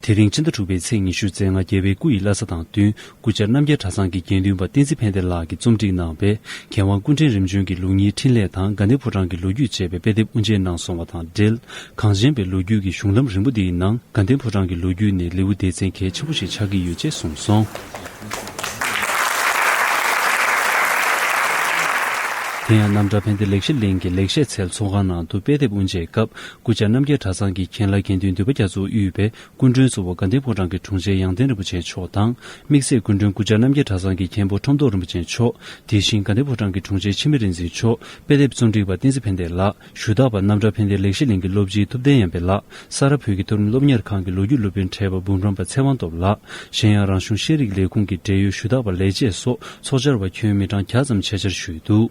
དེ་རིང་ཕྱི་ཟླ་དྲུག་པའི་ཚེས་ཉི་ཤུ་ཚེས་ལྔ་རྒྱལ་བའི་སྐུ་ཡི་བླ་ས་དང་བསྟུན་སྐུ་བཅར་རྣམ་རྒྱལ་གྲྭ་ཚང་གི་དགེ་འདུན་པ་བསྟན་འཛིན་ཕན་བདེ་ལགས་ཀྱིས་རྩོམ་སྒྲིག་གནང་བའི་མཁས་དབང་ཀུན་དྲན་རིམ་བྱོན་གྱི་ལུགས་གཉིས་འཕྲིན་ལས་དང་དགའ་ལྡན་ཕོ་བྲང་གི་ལོ་རྒྱུས་ཅེས་པའི་དཔེ་དེབ་དབུ་འབྱེད་གནང་སོང་བ་དང་འབྲེལ། གངས་ཅན་པའི་ལོ་རྒྱུས་ཀྱི་གཞུང་ལམ་རིང་པོ་འདིའི་ནང་དགའ་ལྡན་ཕོ་བྲང་གི་ལོ་རྒྱུས་ནི་ལེའུ་སྡེ་ཚན་གལ་ཆེན་པོ་ཞིག་ཆགས་ཀྱི་ཡོད་ཅེས་གསུངས་སོང། དེ་ཡང་རྣམ་གྲྭ་ཕན་བདེ་ལེགས་བཤད་གླིང་གི་ལེགས་བཤད་ཚལ་ཚོགས་ཁང་ནང་དུ་དཔེ་དེབ་དབུ་འབྱེད་སྐབས་སྐུ་བཅར་རྣམ་རྒྱལ་གྲྭ་ཚང་གི་མཁན་བླ་དགེ་འདུན་འདུས་པ་རྒྱ་མཚོ་དབུས་པའི་སྐུ་མགྲོན་གཙོ་བོ་དགའ་ལྡན་ཕོ་བྲང་གི་དྲུང་ཆེ་ཡང་ལྡན་རིན་པོ་ཆེ་མཆོག་དང། དམིགས་བསལ་སྐུ་མགྲོན་སྐུ་བཅར་རྣམ་རྒྱལ་གྲྭ་ཚང་གི་མཁན་པོ་ཁྲོམ་ཐོག་རིན་པོ་ཆེ་མཆོག་དེ་བཞིན་དགའ་ལྡན་ཕོ་བྲང་གི་དྲུང་ཆེ་འཆི་མེད་རིག་འཛིན་མཆོག་དཔེ་དེབ་རྩོམ་སྒྲིག་པ་བསྟན་འཛིན་ཕན་བདེ་ལགས་ཞུ་དག་པ་རྣམ་གྲྭ་ཕན་བདེ་ལེགས་བཤད་གླིང་གི་སློབ་སྤྱི་ཐུབ་བསྟན་ཡངས་པའི་ལགས་ས་ར་བོད་ཀྱི་མཐོ་རིམ་སློབ་གཉེར་ཁང་གི་ལོ་རྒྱུས་སློབ་དཔོན་ཁྲལ་པ་འབུམ་རམས་པ་ཚེ་དབང་སྟོབས་ལགས་གཞན་ཡང་རང་གཞུང་ཤེས་རིག་ལས་ཁུངས་ཀྱི་འབྲེལ་ཡོད་ཞུ་དག་པ་ལས་བྱེད་སོགས་ཚོགས་བཅར་བ་ཁྱོན་མི་གྲངས་གྱ་ཙམ་ཆེད་བཅར་ཞུས་འདུག།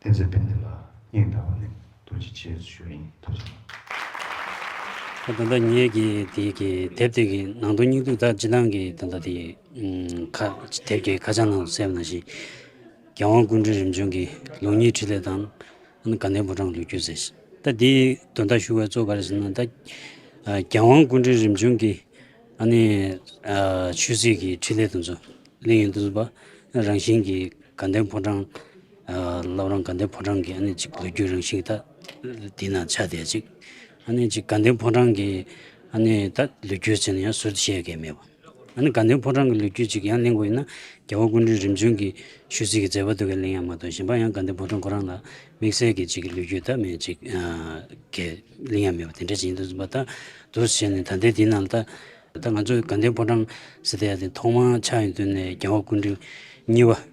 བསྟན་འཛིན་དཔལ་ལྡན་ལགས་སྙིང་ཐག་པ་ནས་ཐུགས་རྗེ་ཆེ་ཞུ་རིན་ཐུགས་རྗེ་ཆེ། ད་ལྟ་ངེད་ཀྱི་དེ་གི་དེབ་དེ་གི་ནང་དོན་སྙིང་སྡུག་དག་ཅི་ལང་གི་ད་ལྟ་དེ་ཁ་དེབ་ཀྱི་ཁ་བྱང་ནང་དུ་སེམས་ན་ཞིག་རྒྱལ་དབང་ཀུན་འདྲི་རིམ་བྱོན་གི་ལུགས་གཉིས་ཁྲི་ལེ་དང་ཨ་ན་དགའ་ལྡན་ཕོ་བྲང་ལུས་རྒྱུད་ཟེར་ཞིག་ད་དེ་དོན་དག་ཞུ་བའི་གཙོ་ག་རེ་ཟེར་ན་ད་རྒྱལ་དབང་ཀུན་འདྲི་རིམ་བྱོན་གི་ཨ་ནི་ཆོས་སྲིད་གི་ཁྲི་ལེ་དང་ཚོ་གླིང་ཡིན་དུ་བ་རང་བཞིན་གི་དགའ་ལྡན་ཕོ་བྲང། སློབ་རང་དགའ་ལྡན་ཕོ་བྲང་གི་གཅིག་ལོ་རྒྱུས་རང་བཞིན་དག་དེ་ན་ཆ་དེ་གཅིག་དགའ་ལྡན་ཕོ་བྲང་གི་ད་ལོ་རྒྱུས་ཆེ་ན་ཡང་ཟུར་དུ་བཤད་མཁན་མེད་པ་དགའ་ལྡན་ཕོ་བྲང་གི་ལོ་རྒྱུས་ཅིག་ཡང་གླེང་དགོས་ཡིན་ན་རྒྱལ་བ་ཀུན་གྲོལ་རིམ་བྱོན་གྱི་ཆོས་ཚིག་གི་མཛད་པ་དུ་གས་གླེང་ཡང་མ་གཏོགས་གཞན་པ་ཡང་དགའ་ལྡན་ཕོ་བྲང་ཁོ་རང་ལ་དམིགས་བསལ་གྱི་གཅིག་ལོ་རྒྱུས་དག་མེད་ཅིག་གས་གླེང་ཡང་མེད་པ་དེ་འདྲ་ཞིག་ཡིན་དུས་པ་དག་དུ་བྱས་ནས་ད་ལྟའི་དུས་ན་ད་ང་ཚོ་དགའ་ལྡན་ཕོ་བྲང་ཟེར་ཏེ་ཡ་དེ་ཐོག་མར་ཆགས་ཡོང་དུས་ནས་རྒྱལ་བ་ཀུན་གྲོལ་གཉིས་པ།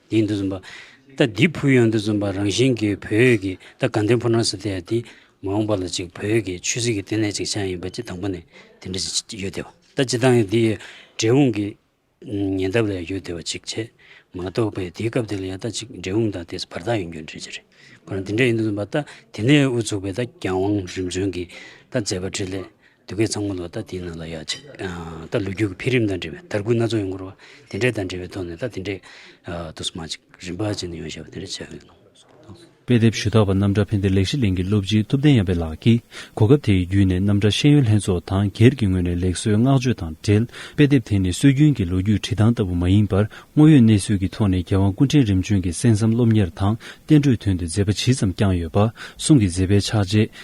ཡིན་དུ་འཛིན་པ། ད་འདི་ཕུལ་ཡོང་དུ་འཛིན་པ་རང་བཞིན་གྱིས་བོད་ཡུལ་གྱི་ད་དགའ་ལྡན་ཕུ་ནག་སི་ཏེ་ཡ་དེ་མ་འོངས་པ་ལ་ཅིག་བོད་ཡུལ་གྱི་ཆོས་སྲིད་ཀྱི་ལྟེ་གནས་ཅིག་ཆགས་ཡིན་པ་ཅིག་དང་པོ་ནས་དེ་འདྲ་ཅིག་ཡོད་དེ་བ་ད་ཅི་ལྟར་ཡང་འདི་ཡི་འབྲས་འོངས་ཀྱི་ཉེ་འདབས་ལ་ཡང་ཡོད་དེ་བ་ཅིག་བྱས་མ་གཏོགས་པའི་དེའི་སྐབས་དེ་ལ་ཡང་ད་ཅིག་འབྲས་འོངས་དང་དེས་བར་ཐག་ཡོང་རྒྱུ་འདྲི་ཅི་རེད་ཁོ་རང་འདི་འདྲ་ཡིན་དུ་འཛིན་པ་ད་དེ་ནས་དབུ་ཚུགས་པའི་ད་རྒྱང་བང་རིམ་བྱོན་གྱིས་ད་མཛད་པ་འཕྲིན་ལས་སྡུག་སྐད་ཚང་མ་ལ་ད་དེའི་ནང་ལ་ཡ་ཆེ། ད་ལོ་རྒྱུས་ཀྱི་འཕེལ་རིམ་དང་འབྲེལ་བའི་དར་རྒུད་སྣ་ཚོགས་ཡོང་སྐོར་བ། དེ་འདྲས་དང་འབྲེལ་བའི་ཐོག་ནས་ད་དེ་འདྲས་དུ་སོ་མ་ཅིག་རིམ་པ་ཅིག་ནས་ཡོང་ཞེས་པ་དེ་འདྲས་བྱས་ཡོད། དཔེ་དེབ་ཞུ་དག་པ་རྣམ་གྲྭ་ཕན་བདེ་ལེགས་ཤེས་གླིང་གི་སློབ་སྤྱི་ཐུབ་བསྟན་ཡངས་པའི་ལགས་ཀྱིས་གོ་སྐབས་དེ་ཡི་བརྒྱུད་ནས་རྣམ་གྲྭ་ཤེས་ཡོན་ལྷན་ཚོགས་དང་སྒེར་གྱི་ངོས་ནས་ལེགས་གསོལ་བསྔགས་བརྗོད་དང་འབྲེལ་དཔེ་དེབ་དེ་ནི་སྲོལ་རྒྱུན་གྱི་ལོ་རྒྱུས་བྲིས་ཐང་ལྟ་བུ་མ་ཡིན་པར་དངོས་ཡོད་གནས་ཚུལ་གྱི་ཐོག་ནས་རྒྱལ་དབང་སྐུ་ཕྲེང་རིམ་བྱོན་གྱི་གསན་བསམ་སློབ་གཉེར་དང་བསྟན་འགྲོའི་དོན་དུ་མཛད་པ་ཇི་ཙམ་བསྐྱངས་ཡོད་པ་གསུང་གི་མཛད་པའི་ཕྱག་རྗེས་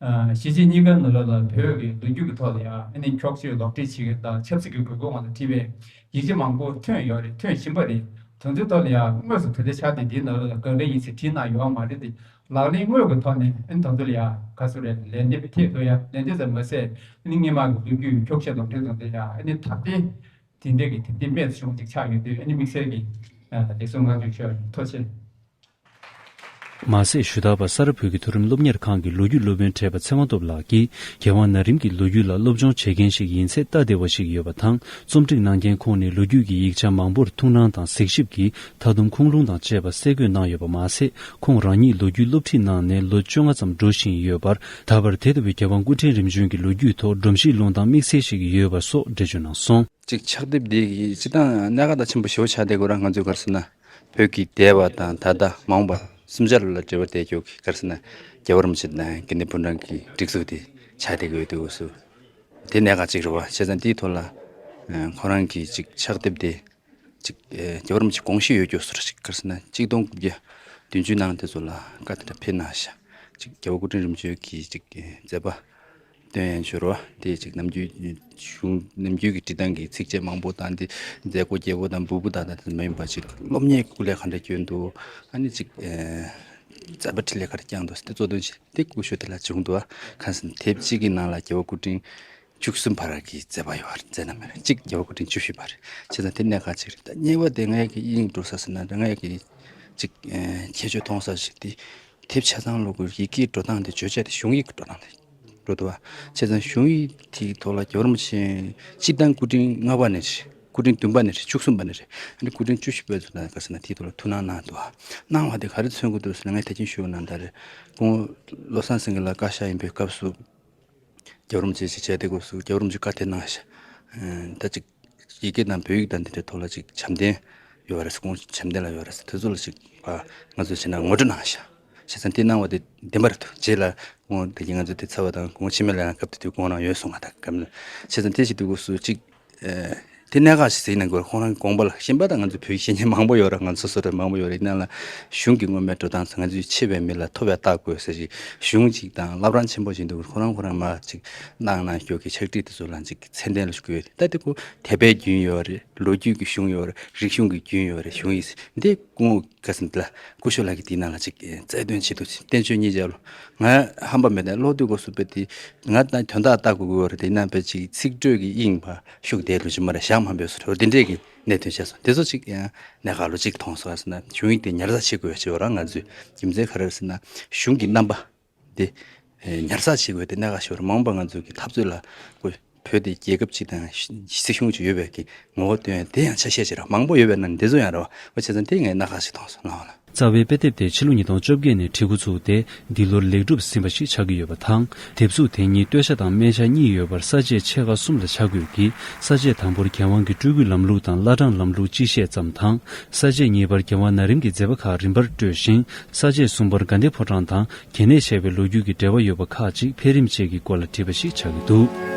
གཞིས་བྱེས་གཉིས་ཀ་ནུ་ལོ་ལ་བོད་ཀྱི་ལོ་རྒྱུས་ཀྱི་ཐོག་ལ་ཡང་ཨ་ནི་འཁྱོག་བརྗོད་ལོག་འགྲེལ་བྱེད་མཁན་དང་ཆབ་སྲིད་ཀྱི་དགོས་མཁོ་ངང་དུ་བྲིས་པའི་ཡིག་ཆ་མང་པོ་ཐོན་ཡོད་རེད་ཐོན་བཞིན་པ་རེད་དོན་དེའི་ཐོག་ལ་ཡང་དངོས་སུ་དོན་དེ་ཆགས་དུས་འདིའི་ནུ་ལོ་ལ་དགག་འགྲེལ་ཡིན་ཟེར་བྲིས་གནང་ཡོད་ཨང་མ་རེད་དེ་ལག་ལེན་དངོས་ཀྱི་ཐོག་ནས་ཨ་ནི་དོན་དུ་ལ་ཡང་ག་ཚོད་རེད་ལན་འདེབས་པའི་ཐད་དུ་ཡང་ལན་འདེབས་ཙམ་མ་ཟད་ཨ་ནི་དངོས་མང་གི་ལོ་རྒྱུས་འཁྱོག་བཤད་ལོག་འགྲེལ་དང་འབྲེལ་ཡང་ཨ་ནི་ད་ལྟའི་དེང་དུས་ཀྱི་དེབ་དེ་རྨད་དུ་བྱུང་བ་ཅིག་ཆགས་ཡོད་དུས་ཨ་ནི་དམིགས་བསལ་གྱི་ལེགས་སོ་ངག་བརྗོད་ཆོས་ཐོ་ཆེ། མ་ཟད་ཞུ་དག་པ་ས་རཱ་བོད་ཀྱི་མཐོ་རིམ་སློབ་གཉེར་ཁང་གི་ལོ་རྒྱུས་སློབ་དཔོན་ཁྲེས་པ་ཚེ་དབང་སྟོབས་ལགས་ཀྱིས་རྒྱལ་དབང་ན་རིམ་གྱི་ལོ་རྒྱུས་ལ་སློབ་སྦྱོང་བྱེད་མཁན་ཞིག་ཡིན་ཚད་སྟབས་བདེ་བ་ཞིག་ཡོད་པ་དང་རྩོམ་སྒྲིག་གནང་མཁན་ཁོང་ནས་ལོ་རྒྱུས་ཀྱི་ཡིག་ཆ་མང་པོར་ཐུགས་སྣང་དང་གཟིགས་ཞིབ་ཀྱིས་མཐའ་དུམ་ཁུངས་ལུང་དང་བཅས་པ་གསལ་འཁོད་གནང་ཡོད་པ་མ་ཟད་ཁོང་རང་ཉིད་ལོ་རྒྱུས་སློབ་ཁྲིད་གནང་ནས་ལོ་བཅོ་ལྔ་ཙམ་འགྲོ་བཞིན་ཡོད་པར་ད་བར་དེ་ལྟ་བུའི་རྒྱལ་དབང་སྐུ་ཕྲེང་རིམ་བྱོན་གྱི་ལོ་རྒྱུས་ཐོག་སྒྲོམ་གཞིའི་ལུང་བསྟན་དམིགས་བསལ་ཞིག་ཡོད་པ་སོགས་འགྲེལ་བརྗོད་གནང་སོང། གཅིག་ཕྱག་དེབ་འདི་ཡིས་སྤྱི་དང་གནད་འགག་དང་ཆེན་པོ་ཞེ་བོ་ཆགས་བསྡད་དགོས་ར་ང་ཚོའི་སྒར་སོ་ན། བོད་ཀྱི་འདས་པ་དང་ད་ལྟ་མ་འོངས་པ་གསུམ་ཆར་ལ་འབྲེལ་བ་བསྡད་ཆོག་གི་སྐར་ས་ན་རྒྱལ་བ་རིན་པོ་ཆེ་དང་དགེ་འདུན་པོན་ཀྲང་གི་སྒྲིག་འཛུགས་དེ་ཆགས་བསྡད་ཀྱི་འོས་བསྡུ་སུ་དེ་གནད་འགག་ཅིག་རེད་བ་བྱས་ཙང་དེའི་ཐོག་ལ་ཁོ་རང་གིས་ཅིག་ཕྱག་བསྡེབས་ཏེ་ཅིག་རྒྱལ་བ་རིན་པོ་ཆེ་དགོངས་བཞེས་ཡོད་རྒྱུ་སུ་རེད་ཅིག་སྐར་ས་ན་གཅིག་སྟོང་དགུ་བརྒྱ་བདུན་ཅུའི་ནང་དེ་ཚོ་ལ་བཀའ་དེ་འདྲ་ཕེབས་ན་ཤག་ཅིག་རྒྱལ་བ་སྐུ་ཕྲེང་རིམ་བྱོན་གྱིས་ཅིག་མཛད་པ། དོན་ཡང་བྱུར་བ་དེ་ཅིག་ནམ་རྒྱུན་གཞུང་ནམ་རྒྱུན་གྱི་བྲིས་ཐང་གི་ཚིགས་བཅད་མང་པོ་དང་དེ་མཛད་སྒོ་རྒྱལ་པོ་དང་འབུལ་པོ་དག་དང་མ་ཡིན་པ་ཅིག་སློབ་གཉེར་སྐུ་ལས་ག་འདྲ་བསྐྱོན་འདུག་ཨ་ནི་ཅིག་མཛད་པ་ཁྲི་ལས་ག་རེ་བསྐྱངས་འདུག་དེ་གཙོ་དོན་བྱས་ཏེ་སྐུ་ཞུ་དེ་ལ་བྱུང་འདུག་ཁ་སང་དེབ་གཅིག་གི་ནང་ལ་རྒྱལ་བ་སྐུ་ཕྲེང་བཅུ་གསུམ་བར་གྱི་མཛད་པ་ཡོད་རེད་མཛད་ན་མེད་རེད་གཅིག་རྒྱལ་བ་སྐུ་ཕྲེང་བཅུ་བཞི་བར་བྱས་ཙང་དེ་གནད་འགག་ཅིག་རེད་ད་གཉིས་པ་དེ་ངས་ཀྱི་དབྱིངས་སྒྲོག་ས་ཟེར་ན་ངས་ཀྱི་ཅིག་ཁྱད་ཆོས་མཐོང་ས་ཞིག་དེ་དེབ་ཆ་ཚང་ཀློག་སྐབས་ཡི་གེའི་འགྲོ་སྟངས་དེ་བརྗོད་བྱ་དེ་གཞུང་ཡིག་གི་འགྲོ་སྟངས་དེ་འགྲོ་ཐུབ། བྱས་ཙང་གཞུང་ཡིག་དེའི་ཐོག་ལ་འགྱུར་བ་མ་བྱས། སྤྱིར་བཏང་སྐུ་ཕྲེང་ལྔ་པ་ནས་རེད། སྐུ་ཕྲེང་བདུན་པ་ནས་རེད་བཅུ་གསུམ་པ་ནས་རེད། ཨ་རིག་སྐུ་ཕྲེང་བཅུ་བཞི་པའི་ཚོ་ན་དགའ་ས་ན་དེའི་ཐོག་ལ་ཐུགས་སྣང་གནང་འདུག་གནང་བ་དེ་ག་རེ་མཚོན་དགོས་འདུག་ཟེར་ན་ངས་ཐེག་ཆེན་ཞུ་གནང་གདའ་རེད། སྐུ་ངོ་བློ་བཟང་སེང་གེ་ལགས་བཀའ་ཤག་ཡིན་པའི་སྐབས་སུ། རྒྱ་རོམ་བཅས་ཀྱི་བྱས་འདེགས་སྐོར་སུ་རྒྱ་རོམ་གྱི་བཀའ་དེ་གནང། ད་ཅིག། ཡི་གེ་དང་བོད་ཡིག་དང་འདི་འདྲའི་ཐོག་ལ་ཅིག་བྱམས་ལྡན་ཡོད་པ་རེད་ཁོང་ཚོ་བྱམས་ལྡན་ལ་ཡོད་རེད་དེ་ཚོ་ལ་ཅིག་ང་ཚོས་བྱས་ན་ངོ་སྤྲོད་གནང་ཞེས་བྱས་ཙང་དེ་གནང་བ་དེ་བདེན་པ་རེད་འདུག་རྗེས་ལ་ཁོང་དེ་གཉིས་ང་ཚོ་དེ་ཚར་བ་དང་ཁོང་ཕྱི་མ་ལའང་སྐབས་དེ་དུས་དགོངས་གནང་ཡོད་སོང་བ་དང་སྐབས་བྱས་ཙང་དེ་ཞིག་དུས་སུ་ཅིག་དེ་གནད་འགག་ཞིག་གཟིགས་ན་དགོས་རེད་ཁོང་རང་གི་དགོངས་པ་ལ་ཞེན་པ་དང་ང་ཚོ་བོད་ཀྱི་བཤེས་གཉེན་མང་པོ་ཡོད་རེད་ང་ཚོ་སོ་སོར་མང་པོ་ཡོད་རེད་ཡིན་ན་ལ་གཞུང་གི་མངོན་མེད་འགྲོ་སྟངས་སུ་ང་ཚོས་ཆེ་བའི་མི་ལ་མཐོ་བའི་རྟགས་དགོས་ཟེར་ཞིག་གཞུང་ཅིག་དང་བླ་བྲང་ཆེན་པོ་ཅིག་འདུག་ཁོང་རང་ཁོང་རང་མ་ཅིག་གནང་གནང་ཞོག་གི་ཕྱག་བྲིས་དེ་ཚོ་ལ་ཅིག། ཚད་ལྡན་ལ་ཞུགས་ཡོད་རེད་ད་དེ་ཀོ་དད་པའི་རྒྱུན་ཡོད་རེད་ལོ་རྒྱུས་ཀྱི་གཞུང་ཡོད་རེད་རིག་གཞུང་གི་རྒྱུན་ཡོད་རེད་གཞུང་ཡིག་འདི་སྐུ་ངོ་ག་ཚོད་འདི་ལ་ཀུ་ཤོ་ལགས་ཀྱིས་འདིའི་ནང་ལ་ཅིག་རྩལ་འདོན་བྱེད་དུ་བསྟན་བཅོས་གཉིས་མཇལ་ལོ་ང་ཧམ་པ་མེད་ད་གློག་རྡུལ་སྒོ་ཟུར་པའི་དེ་ང་ད་དོན་དག་བལྟ་དགོས་ཀྱི་ཡོད་རེད་དེ་ནང་པའི་ཅིག་ཚིག་སྒྲོས་ཀྱི་དབྱིངས་བར་ཤུགས་བསྡད་འགྲོ་ཅི་མ་རེད་ཞག་མང་པོའི་ཟོར་དེ་འདྲས་ཀྱི་གནད་དོན་བཤད་སོང་དེ་ཚོ་ཅིག་གནད་ག་ལོ་ཅིག་མཐོང་སོང་ཟེར་ན་གཞུང་ཡིག་དེ་ཉར་ཚགས་བྱེད་དགོས་ཡོད་ཅེས་པ་རང་ང་ཚོའི་རྒྱུ་མཚན་ག་རེ་རེད་ཟེར་ན་གཞུང་གི་རྣམ་པ་དེ། ཉར་ཚགས་བྱེད་དགོས་ཏེ་གནད་འགག་ཆེ་བར་མ་འོངས་པར་ང་ཚོ་གི་འཐབ་རྩོད་ལ། བོད་དེ་རྒྱལ་ཁབ་ཅིག་དང་སྲིད་གཞུང་ཅིག་ཡོད་པའི་གི་ངོ་བོ་བསྟོན་ཡོད་དེ་ཡང་ཆ་ཤས་ཆེ་ར་མང་པོ་ཡོད་པའི་ནང་ནས་འདི་ཚོ་ཡང་ར་བ་བོ་ཆེ་ཚང་དེ་ངས་གནད་འགག་ཅིག་མཐོང་སོང་སྣང་བ་ལ། རྩ་བའི་དཔེ་དེབ་དེ་ཕྱི་ལོ་ཉིས་སྟོང་བཅོ་བརྒྱད་ནས་བྲིས་འགོ་ཚུགས་ཏེ་འདི་ལོར་ལེགས་གྲུབ་ཟིན་པ་ཞིག་ཆགས་ཀྱི་ཡོད་པ་དང། དེབ་གཟུགས་དེ་གཉིས་སྟོད་ཆ་དང་སྨད་ཆ་གཉིས་ཡོད་པར་ས་བཅད་ཕྱེད་ཀ་གསུམ་ལ་བྱ་དགོས་ཀྱི་ས་བཅད་དང་པོར་རྒྱལ་དབང་གི་སྤྲུལ་སྐུའི་ལམ་ལུགས་དང་བླ་བྲང་ལམ་ལུགས་གཅིག་བཤད་ཙམ་དང། ས་བཅད་གཉིས་པར་རྒྱལ་དབང་ན་རིམ་གྱི་མཛད་པ་ཁག་རིམ་པར་སྤྲོས་ཤིང་ས་བཅད་གསུམ་པར་དགའ་ལྡན་ཕོ་བྲང་དང་གྱེས་གནས་བཤད་པའི་ལོ་རྒྱུས་ཀྱི་འབྲེལ་བ་ཡོད་པ་ཁག་ཅིག་འཕེལ་རིམ་བཅས་ཀྱི་སྐོར་ལ་བྲིས་པ་ཞིག་ཆགས་ཀྱི་འདུག།